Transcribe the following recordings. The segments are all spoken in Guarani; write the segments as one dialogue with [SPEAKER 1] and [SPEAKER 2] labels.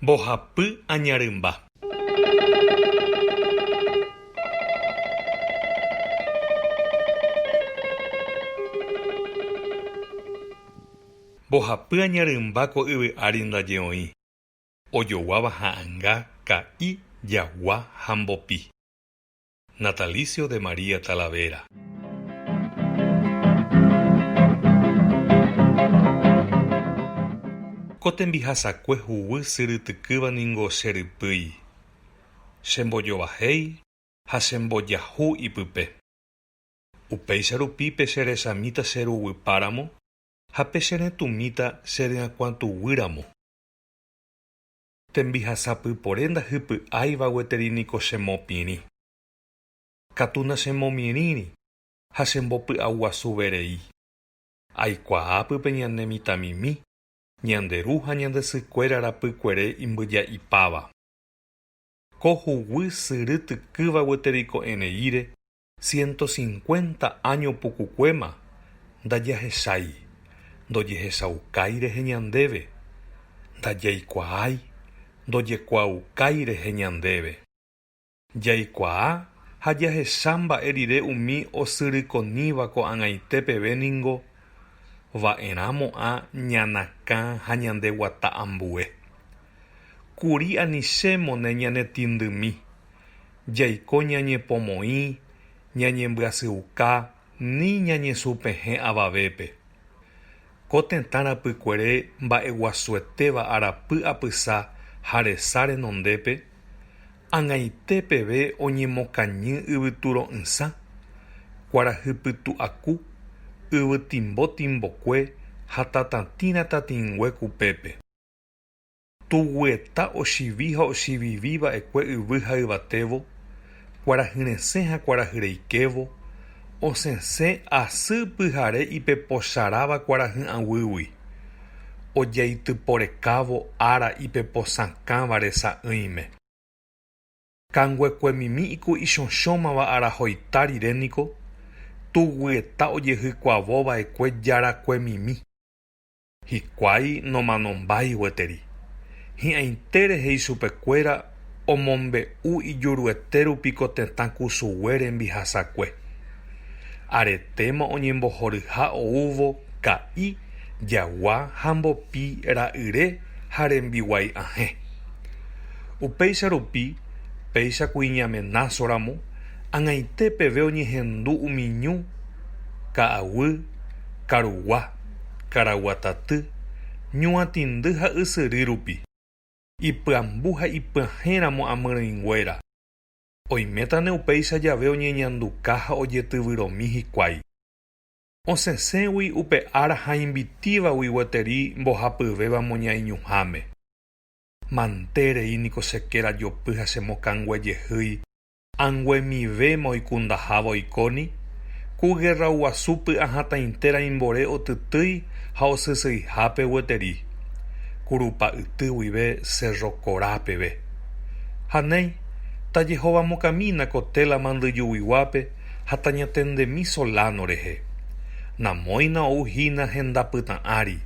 [SPEAKER 1] Mbohapy añarymba. Mbohapy añarymba ko yvy ári ndaje oĩ, ojoguáva ha'anga, ka'i, jagua ha mbopi. Natalicio de María Talavera. Ko tembihasakue huguy syrytykýva ningo che rypýi. Che mbojovahéi ha che mbojahu ipype. Upéicha rupi pe che rechamíta che ruguýpáramo ha pe che retũmíta che ryakuãtuguýramo. Tembihasa pypore ndahypy'áiva gueteri niko chemopirĩ. Katu nachemomirĩri ha chembopy'aguasuverei. Aikuaa pype ñane mitãmimi, ñande ru ha ñande sykuéra rapykuere imbyja'ipáva. Ko huguy sy rytykýva gueteri ko'ẽreíre Siénto sinkuénta áño pukukuéma ndajahechái, ndojehechaukái rehe ñandéve, ndajaikuaái, ndojekuaaukái rehe ñandéve. Jaikuaa ha jahecha mba'e rire umi osyrykoníva ko'ag̃aite peve ningo va'erãmo'ã ñanakã ha ñandeguata ambue. Kuri anichémone ñanetindymi, Jaiko ñañepomoĩ, ñañembyasyiuka ni ñañesupehẽ avavépe. Ko tetã rapykuere mba'eguasuetéva arapy apysa ha resa renondépe, ag̃aite peve oñemokañy yvyturo'ysã, kuarahypytu'aku, yvytimbo timbokue ha tatãtĩra tatĩngue kupépe. Tugueta ochivi ha ochivivi va'ekue yvy ha yvatévo, kuarahy resẽ ha kuarahy reikévo, osẽse asy pyhare ipepocharáva kuarahy aguýgui, ojaityporekávo ára ipeposãkãva resa'ỹime. Kanguekuemimi iku ichõchõmava arahoita rire niko, tugueta ojehykuavo va'ekue jarakuemimi. Hikuái nomanombái gueteri. Hi'ãitére he'i chupekuéra omombe'u ijuruete rupi ko tetã kusugue rembihasakue. Aretéma oñembohoryha oúvo ka'i, jagua ha mbopi ra'yre ha rembiguái ahẽ. Upéicha rupi, péicha kuiñamenáso ramo, ag̃aite peve oñehendu umi ñu, ka'aguy, karugua. karaguataty, ñuatĩndy ha ysyry rupi, ipyambu ha ipyahẽ ramo amyrỹinguéra, oimétane upéicha jave oñeñanduka ha ojetyvyromi hikuái. Osẽsẽgui upe ára ha invitívagui gueteri mbohapyvéva moñaiñuháme. Mante rei niko che kéra jopy ha che mokãnguejehýi Anguemivéma oikundaháva oikóni, ku gerraguasu py'ahatãintera imbore otytýi ha osysyihápe gueteri, kurupa yty guive Cerro Corá peve. Ha néi, tajehovamokamína ko téla mandyjuguiguápe ha tañatendemi Solano rehe. Namóina ou hína henda pytã ári,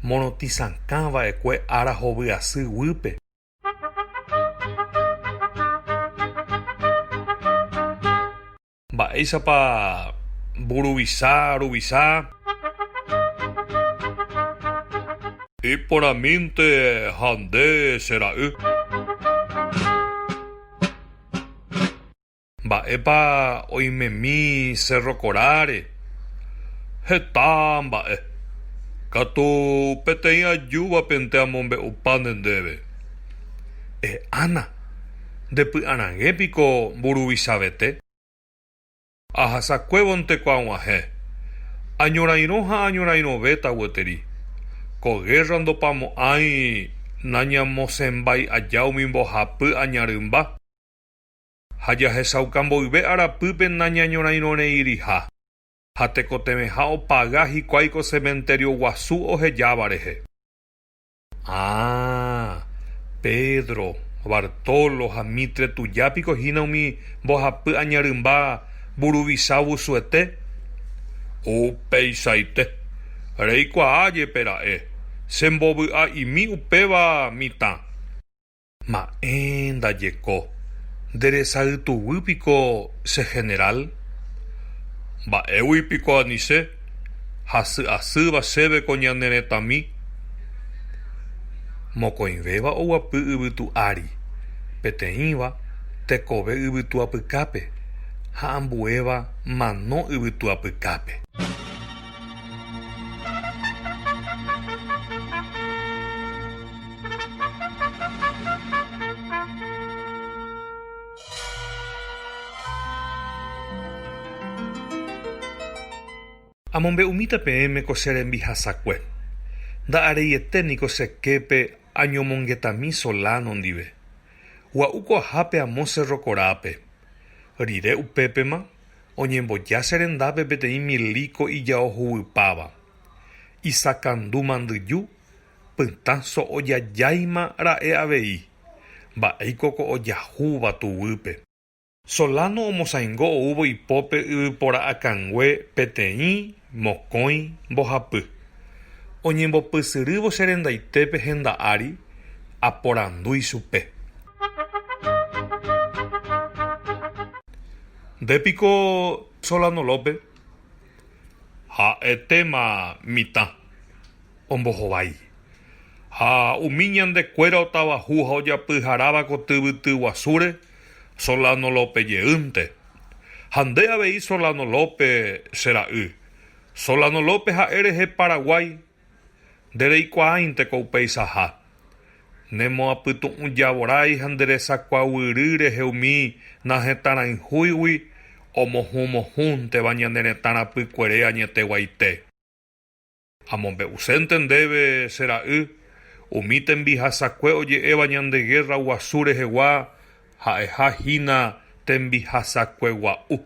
[SPEAKER 1] morotĩ sakã va'ekue ára hovy asy guýpe. Mba'éichapa mburuvisa ruvisa? Iporãmínte ha nde che ra'y. Mba'épa oimemi Cerro Coráre? Heta mba'e. Katu peteĩ ajúvapente amombe'upáne ndéve. Eh Ana, nde py'arag̃e piko mburuvichavete? Ahasakuévonte ko aguahẽ. Añorairõ ha añorairõvéta gueteri. Ko guerra ndopamo'ãi nañamosẽmbai'aja umi mbohapy aña rymba. ha jahechauka mboyve arapýpe nañañorãirõreiriha, ha tekotevẽha opaga hikuái ko cementerio guasu ohejáva rehe. Ah, Pedro, Bartolo ha Mitre tuja piko hína umi mbohapy añarymba Mburuvicha Ovusuete? Upeichaite. Reikuaa jepe ra'e, chembovy'a'imi upéva mitã. Ma'ẽ ndajeko. Nde resa ytuguy piko che general? Mba'égui piko ani che, hasy asýva chéve ko ñane retãmi. Mokõivéva oguapy yvytu ári, peteĩva tekove yvytu apykápe ha ambuéva mano yvytu apykápe. Amombe'umíta peẽme ko che rembihasakue. Nda'areiete niko che képe añomongetami Solano ndive. Gua'u ko ahápe amo Cerro Corápe. Rire upépema, Oñemboja che rendápe peteĩ milíko ijao huguipáva, isakandu mandyju, pytã so'o jajáima ra'e avei, mba'éiko ko ojahúva tuguýpe. Solano omosãingo oúvo ipópe yvypora akãngue peteĩ Mokõi mbohapy. Oñembopysyrývo che rendaite pe henda ári, aporandu ichupe. Nde piko Solano Lópe? Ha'etéma mitã. Ombohovái. Ha umi ñande kuéra otavaju ha ojapyharáva ko tyvyty guasúre, Solano Lópe jeýnte. Ha nde avei Solano Lópe che ra'y. Solano Lópe ha'e rehe Paraguái. Nde reikuaáinte ko upeichaha. Ne moapytu'ũjavorái ha nde resakuaguýry rehe umi nahetãrãihúigui omohũ mohũnteva ñane retã rapykuere añeteguaite. Amombe'usénte ndéve, che ra'y, umi tembihasakue oje'éva ñande gérra guasu rehegua ha'eha hína tembihasakue gua'u.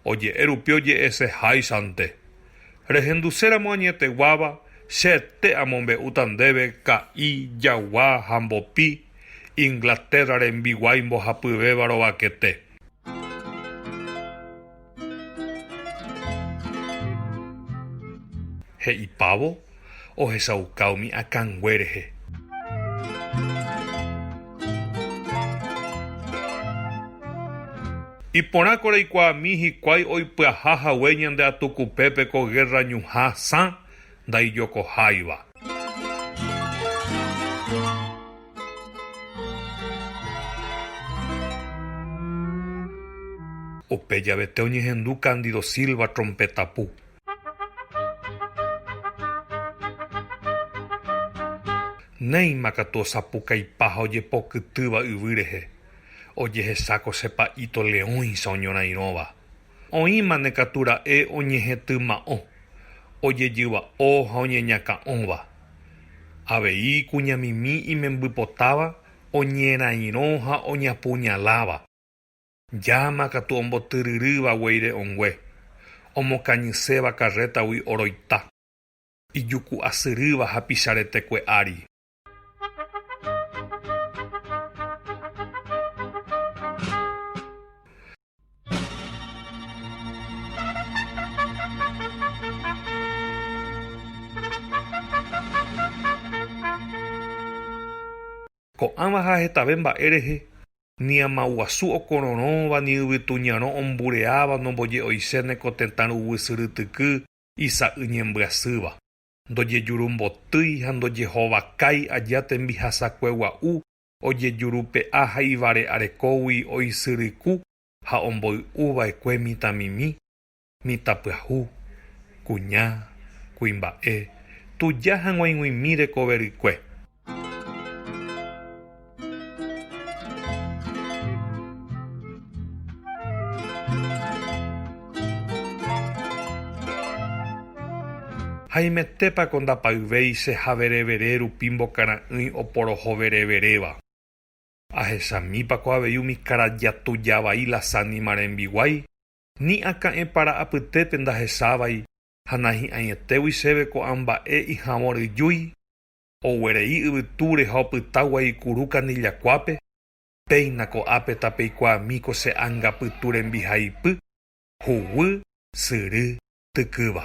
[SPEAKER 1] Oje'e rupi oje'ese háichante. Rehenduséramo añeteguáva, chete amombe'úta ndéve ka'i, jagua ha mbopi, Inglaterra rembiguái mbohapyvéva rovakete. He'ipávo ohechauka umi akãngue rehe. Iporãko reikuaami hikuái oipyaha hague ñande atukupépe ko gérra ñuhã sã ndaijokoháiva. Upe javete oñehendu Cándido Silva trompeta pu. Néima katu osapukaipa ha ojepokytýva yvy rehe, ojehesáko che pa'íto leõicha oñorairõva. Oĩmane katu ra'e oñehetyma'õ, ojejyva'o ha oñeñakã'õva. Avei kuñamimi imembypotáva oñerairõ ha oñapuñaláva. Llama katu ombotyryrýva gueire õngue, omokañyséva karrétagui oroita, ijuku'asyrýva ha picharetekue ári. Ko'ãva ha hetave mba'e rehe, ni ama guasu okororõva, ni yvytu ñarõ ombureáva nomboje'oiséne ko tetã ruguy syrytyky isa'y ñembyasýva. Ndojejurumbotýi ha ndojehovakái aja tembihasakue gua'u ojejurupe'a ha ivare'arekógui oisyryku ha omboy'u vaekue mitãmimi, mitãpyahu, kuña, kuimba'e, tuja ha g̃uaig̃uimi rekoverykue. Haimétepa ko ndapayvéi che javerevere rupi mbokara'ỹi oporohovereveréva? Ahechamípa ko avei umi karaja tuja vai lasánima rembiguái? Ni akã'e para apytépe ndahechávai ha nahi'ãietégui chéve ko'ã mba'e ijavõ ryjúi? Oguerei yvytúre ha opyta guaikuru kanillakuápe, péina ko'ápe tapeikuaami ko che anga pytu rembihaipy, huguy, syry, tykýva.